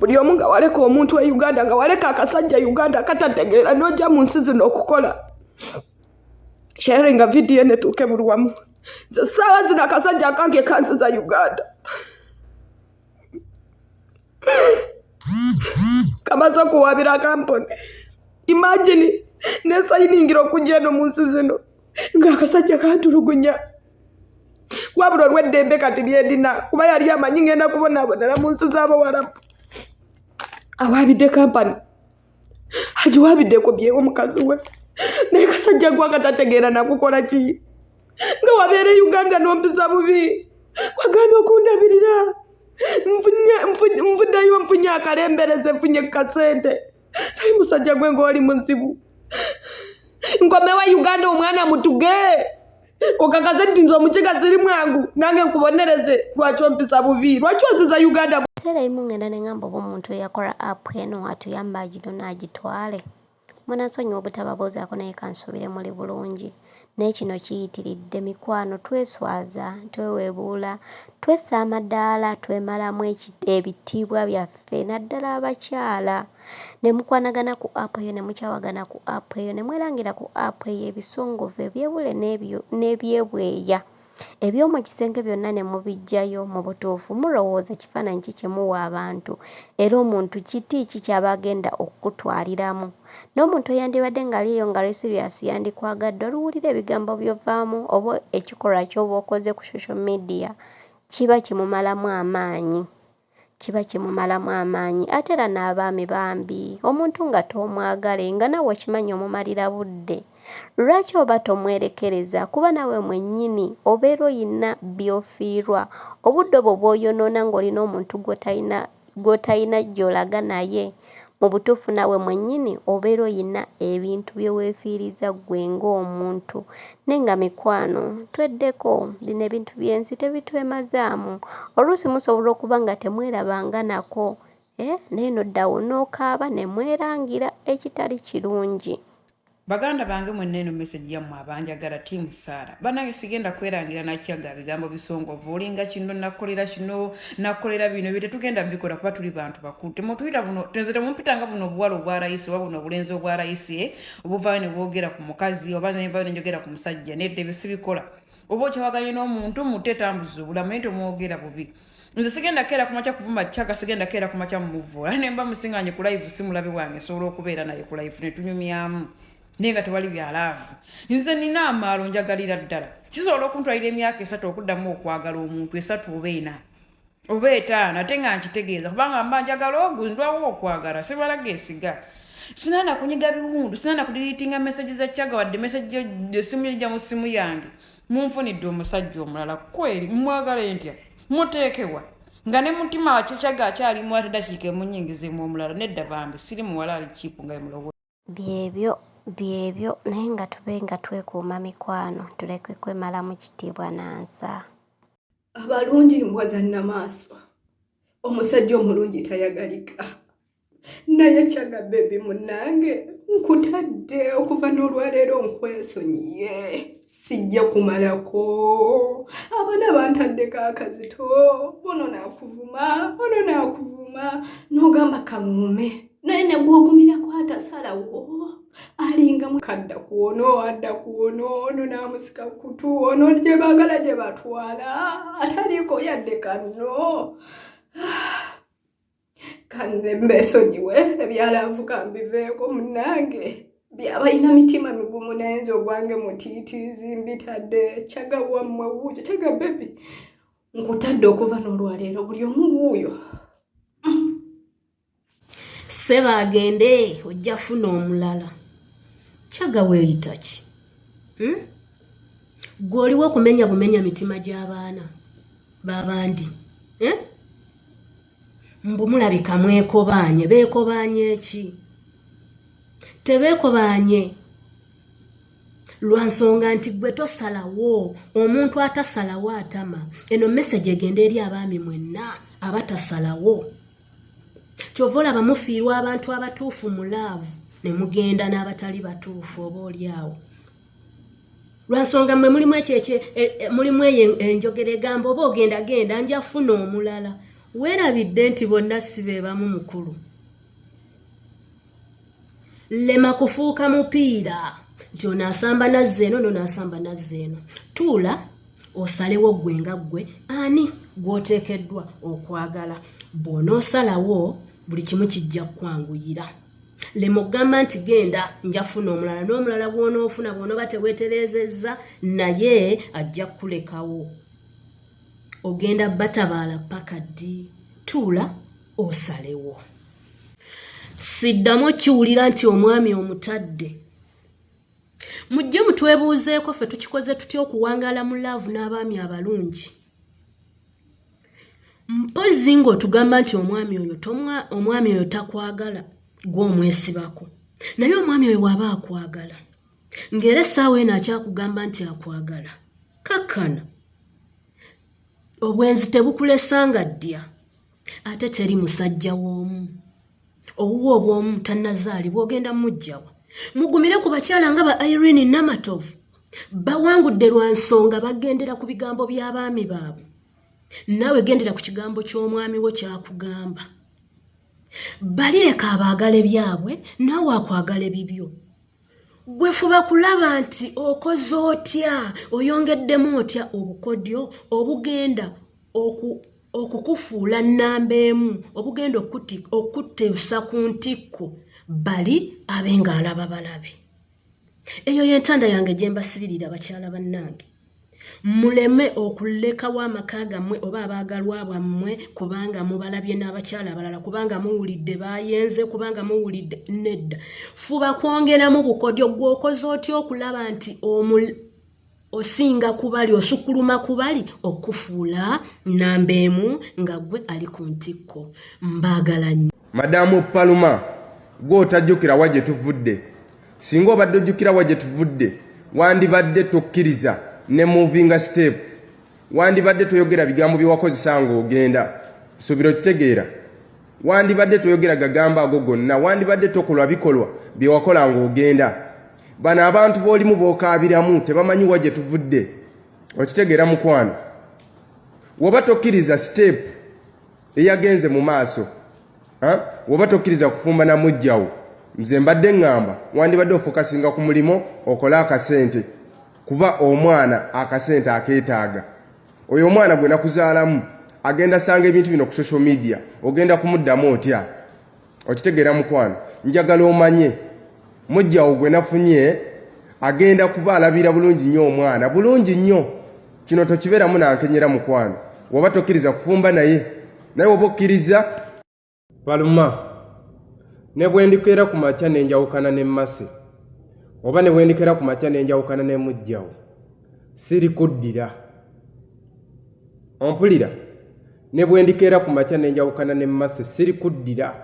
buli omu nga waleka omuntu e uganda nga waleka akasajja e uganda katategeera nojja mu nsi zino okukola sharinga vidiyo netuuke buli wamu nze saawa zino akasajja akange kansiza uganda kama so kuwabira kampuni imagine nesayiningira okujja eno mu nsi zino ng'akasajja kantulugunya wabula olw'eddembe kati lyendina kuba yali amanyi ngenda kubonabonera mu nsi z'abawarabu awaabidde kampani agiwabiddeko byewo mukazi we naye kasajja gwe akatategeera nakukola ki nga wabeera e uganda nompisa bubi wagaana okundabirira nvuddeyo nfunye akalembereze nfunye kukasente naye musajja gwe ngaoli muzibu nkomewa uganda omwana mutuge okakaze nti nze omukiga ziri mwangu nange nkubonereze lwaki ompisa bubi lwaki oziza uganda ekiseera ebimu ngenda nengamba oba omuntu eyakola app eno atuyamba agino naagitwale munasonyiwa obutababuuzaako naye kansuubire muli bulungi naye kino kiyitiridde mikwano tweswaza twewebuula twessa amadaala twemalamu ebitiibwa byaffe naddala abakyala ne mukwanagana ku app eyo ne mukyawagana ku app eyo ne mwerangira ku app eyo ebisongovu ebyebule n'ebyebweya eby'omu kisenge byonna ne mubiggyayo mu butuufu mulowooza kifaananyi ki kye muwa abantu era omuntu kiti ki ky'aba agenda okukutwaliramu n'omuntu eyandibadde ng'ali eyo nga lesiriasi yandikwagadde oluwulira ebigambo byovaamu oba ekikolwa ky'oba okoze ku social media kiba kimumalamu amaanyi kiba kimumalamu amaanyi ate era n'abaami bambi omuntu nga toomwagale nga nawe okimanyi omumalira budde lwaki oba tomwerekereza kuba nawe mwennyini obeera oyina by'ofiirwa obudde obwo bw'oyonoona ng'olina omuntu gw'otalina gy'olaga naye Mu butuufu naawe mwennyini obeera olina ebintu bye weefiiriza ggwe ng'omuntu. Naye nga mikwano tweddeko, bino ebintu by'ensi tebitwemazaamu. Oluusi musobola okuba nga temwerabanga nako eh, naye noddawo n'okaaba ne mwerangira ekitali kirungi. Baganda bange mwenna eno message yammwe abanjagala tiimu Saara banange sigenda kwerangira nakyaga bigambo bisongovu olinga kino nakolera kino nakolera bino bye tetugenda bikola kuba tuli bantu bakulu temutuyita buno tenze temumpitanga buno obuwala obwa layisi oba buno obulenzi obwa layisi eh? obuvaayo ne bwogera ku mukazi oba nenvayo ne njogera ku musajja nedda ebyo sibikola oba okyawaganye n'omuntu mutte tambuza obulamu naye temwogera bubi nze sigenda keera kumakya kuvuma chaka sigenda keera kumakya mumuvvoola naye mba musinganye ku live si mulabe wange nsobola okubeera naye ku live ne tunyumyamu naye nga tewali bya laavu nze nina amaalo njagalira ddala kisobola okuntwalira emyaka esatu okuddamu okwagala omuntu esatu oba ena oba etaano ate nga nkitegeeza kubanga mba njagala ogu ndwawo okwagala sibalaga esiga sinana kunyiga biwundu sinana kudiriitinga mesaje za chaga wadde mesaje esimu yojja mu simu yange munfunidde omusajja omulala kweri mwagala entya muteekewa nga ne mutima wakikyaga akyalimu ate dakiika emunyingizemu omulala nedda bambi siri muwala ali kipu nga emulowo byebyo byebyo naye nga tube nga twekuuma mikwano tuleke kwemalamu kitiibwa nansa abalungi mbwa zannamaaswa omusajja omulungi tayagalika naye kyaga bebi munange nkutadde okuva n'olwaleero nkwesonyiye sijja kumalako abana bantaddeko akazito ono nakuvuma ono nakuvuma nogamba kamuume naye negwogumirako atasalawo alinga mukadda kuono adda kuono ono namusika kutu ono gyebagala gyebatwala ataliiko yadde kanno kanne mbesonyiwe ebyalavuka mbiveeko munange byabalina mitima migumu nayenza ogwange mutiitiizi mbitadde kyaga wammwe wuuyo kyaga bebi nkutadde okuva n'olwaleero buli omu wuuyo seba agende ojja funa omulala kyaga weeyita ki hmm? gwe oliwo okumenya bumenya mitima gy'abaana babandi eh? mbu mulabika mwekobaanye beekobaanye ki tebeekobaanye lwa nsonga nti gwe tosalawo omuntu atasalawo atama eno meseji egenda eri abaami mwenna abatasalawo kyova olaba mufiirwa abantu abatuufu mu laavu ne mugenda n'abatali batuufu oba oli awo lwansonga mwe mulimu ekyo ekyo e, e, mulimu eyo enjogera egamba oba ogenda genda nja funa omulala weerabidde nti bonna si be bamu mukulu lema kufuuka mupiira nti ono asamba nazza eno nono asamba nazza eno tuula osalewo ggwe nga ggwe ani gw'oteekeddwa okwagala bw'onoosalawo buli kimu kijja kkwanguyira lema okugamba nti genda njafuna omulala n'omulala gwonoofuna bwonoba teweterezezza naye ajja kukulekawo ogenda batabaala paka ddi tuula osalewo siddamu okiwulira nti omwami omutadde mujje mutwebuuzeeko ffe tukikoze tutya okuwangaala mu laavu n'abaami abalungi mpozzi ng'otugamba nti omwami oyo omwami oyo takwagala gw'omwesibako naye omwami oyo bw'aba akwagala ng'era essaawa eno akyakugamba nti akwagala kakkana obwenzi tebukulesanga ddya ate teri musajja w'omu owuwo obw'omu tannazaali bw'ogenda mujjawa mugumire ku bakyala nga ba irene namatovu bawangudde lwa nsonga bagendera ku bigambo by'abaami baabwe naawe gendera ku kigambo ky'omwami wo kyakugamba bali leka abaagala ebyabwe naawe akwagala ebibyo gwefuba kulaba nti okoze otya oyongeddemu otya obukodyo obugenda okukufuula nnamba emu obugenda okutteesa ku ntikko bali abe ng'alaba balabe eyo yentanda yange gyembasibirira bakyala bannange muleme okulekawo amaka gammwe oba abaagalwa bwammwe kubanga mubalabye n'abakyala abalala kubanga muwulidde bayenze kubanga muwulidde nedda fuba kwongeramu bukodyo gweokoze otya okulaba nti osinga kubali osukuluma kubali okufuula namba emu nga gwe ali ku ntikko mbaagala nnyo madamu paluma gwe otajjukira wa gye tuvudde singa obadde ojjukira wa gye tuvudde wandibadde tokkiriza ne movinga step wandibadde toyogera bigambo byewakozesa nga ogenda suubira okitegeera wandibadde toyogera gagambo ago gonna wandibadde tokolwa bikolwa byewakola nga ogenda bano abantu bolimu bokaabiramu tebamanyi wa gye tuvudde okitegeera mukwano woba tokkiriza siteepu eyagenze mu maaso woba tokkiriza kufumba na mujjawo nze mbadde ŋŋamba wandibadde ofokasinga ku mulimu okole akasente kuba omwana akasente akeetaaga oyo omwana gwe nakuzaalamu agenda sanga ebintu bino ku social media ogenda kumuddamu otya okitegeera mukwano njagala omanye mujjawo gwe nafunye agenda kuba alabira bulungi nnyo omwana bulungi nnyo kino tokibeeramu nankenyera mukwano waba tokkiriza kufumba naye naye oba okkiriza baluma ne bwe ndikeera ku makya ne njawukana ne mmase oba ne bwe ndikeera ku makya ne njawukana ne mujjawo siri kuddira ompulira ne bwe ndikeera ku makya ne njawukana ne mase siri kuddira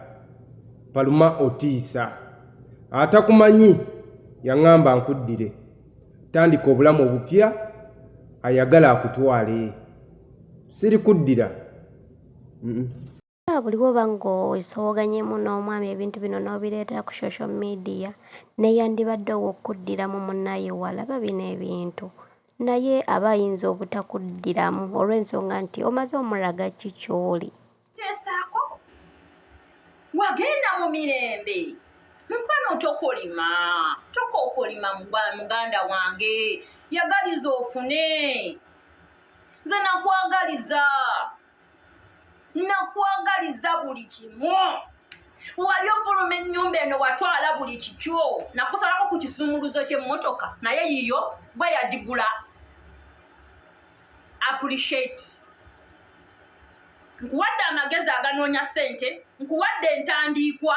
paluma otiisa atakumanyi yaŋŋamba nkuddire tandika obulamu obupya ayagala akutwale siri kuddira buliwo oba ng'osoboganyemu n'omwami ebintu bino n'obireetera ku social media neyandibadde ow'okuddiramu munnaye walaba bino ebintu Naye aba ayinza obutakuddiramu olw'ensonga nti omaze omulaga ki ky'oli. Teesaako. Wagenda mu mirembe. Mukwano tokolima. Tokookolima muganda wange. Yagaliza ofune. Nze nakwagaliza. nakwagaliza buli kimu wali ovuluma ennyumba eno watwala buli kikyo nakusalako ku kisumuluzo ky'emmotoka naye yiyo bwe yagigula appreciate nkuwadde amagezi aganoonya ssente nkuwadde entandiikwa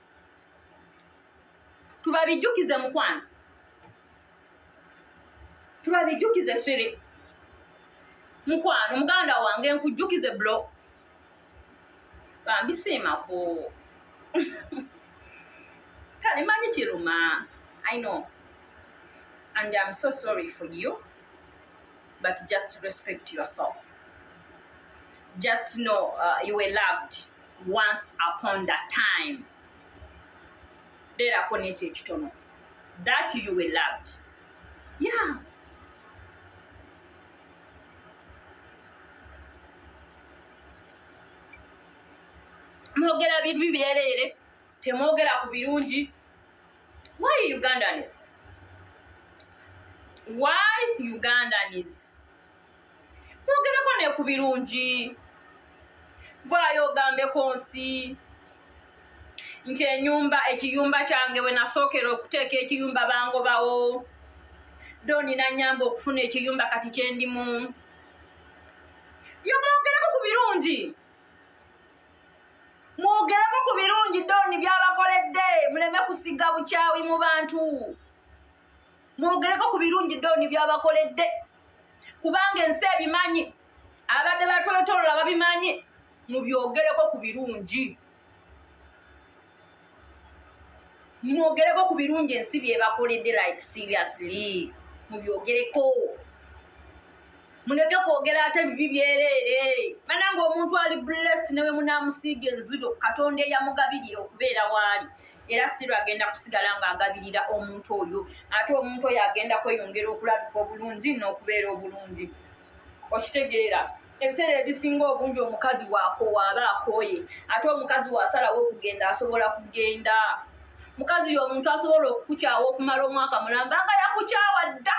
tubabijjukize mukwano tubabijjukize siri mukwano muganda wange nkujjukize blo bambisiimako kale manyi kiruma i know and iam so sorry for you but just respect yourself just know uh, you were loved once upon the time beerako n'ekyo ekitono that you were loved yeah mwogera bibi byereere temwogera ku birungi why ugandans why ugandans mwogereko ne ku birungi vaayo ogambeko nsi nti enyumba ekiyumba kyange we nasookera okuteeka ekiyumba bangobawo doni nanyamba okufuna ekiyumba kati kyendimu yo mwogereko ku birungi mwogereko ku birungi doni byabakoledde muleme kusiga bukyawi mu bantu mwogereko ku birungi dooni byabakoledde kubanga ensi ebimanyi abadde batwetolola babimanyi mubyogereko ku birungi mwogereko ku birungi ensi byebakoledde like seriously mubyogereko muleke kwogera ate bibi byereere bananga omuntu ali blessed newe munamusiiga enzudo katonda eyamugabirira okubeera waali era siro agenda kusigala nga agabirira omuntu oyo ate omuntu oyo agenda kweyongera okulabika obulungi n'okubeera obulungi okitegeera ebiseera ebisinga obungi omukazi wakowa aba akooye ate omukazi wasalawo okugenda asobola kugenda mukazi yo omuntu asobola okukukyawa okumala omwaka mulamba nga yakukyawa dda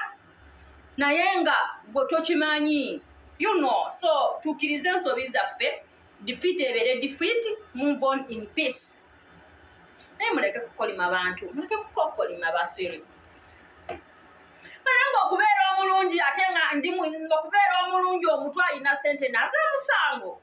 naye nga gwe tokimanyi you know so tukirize ensobi zaffe defeat ebeere defeat move on in peace naye muleke kukolima bantu muleke kukokolima basiri naye ngaokubeera omulungi ate nga ndi okubeera omulungi omutw alina sente naze musango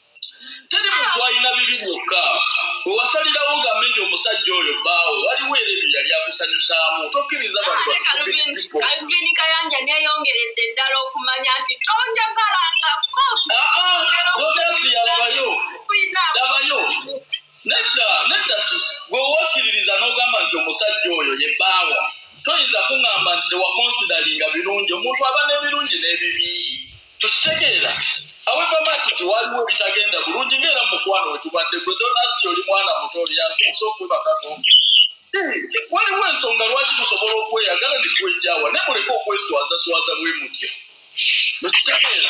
teri muntu alina bibi byokka wewasalirawo gambe nti omusajja oyo baawo waliwo era ebyo yali akusanyusaamu tokkiriza bantualvini kayanja neyongeredde ddala okumanya nti tonjagalangako labayo nedda nedda gwewakkiririza n'ogamba nti omusajja oyo ye baawa toyinza kuŋamba nti tewakonsidalinga birungi omuntu aba n'ebirungi n'ebibi tukitegeera aweva maki nti waliwo ebitagenda bulungi ngaera mukwano wetubadde gwe donasi oli mwana muto oli yasinza okwebakako waliwo ensonga lwaki tusobola okweyagala nekwejawa naye muleke okweswazaswaza bwe mutya mukitegeera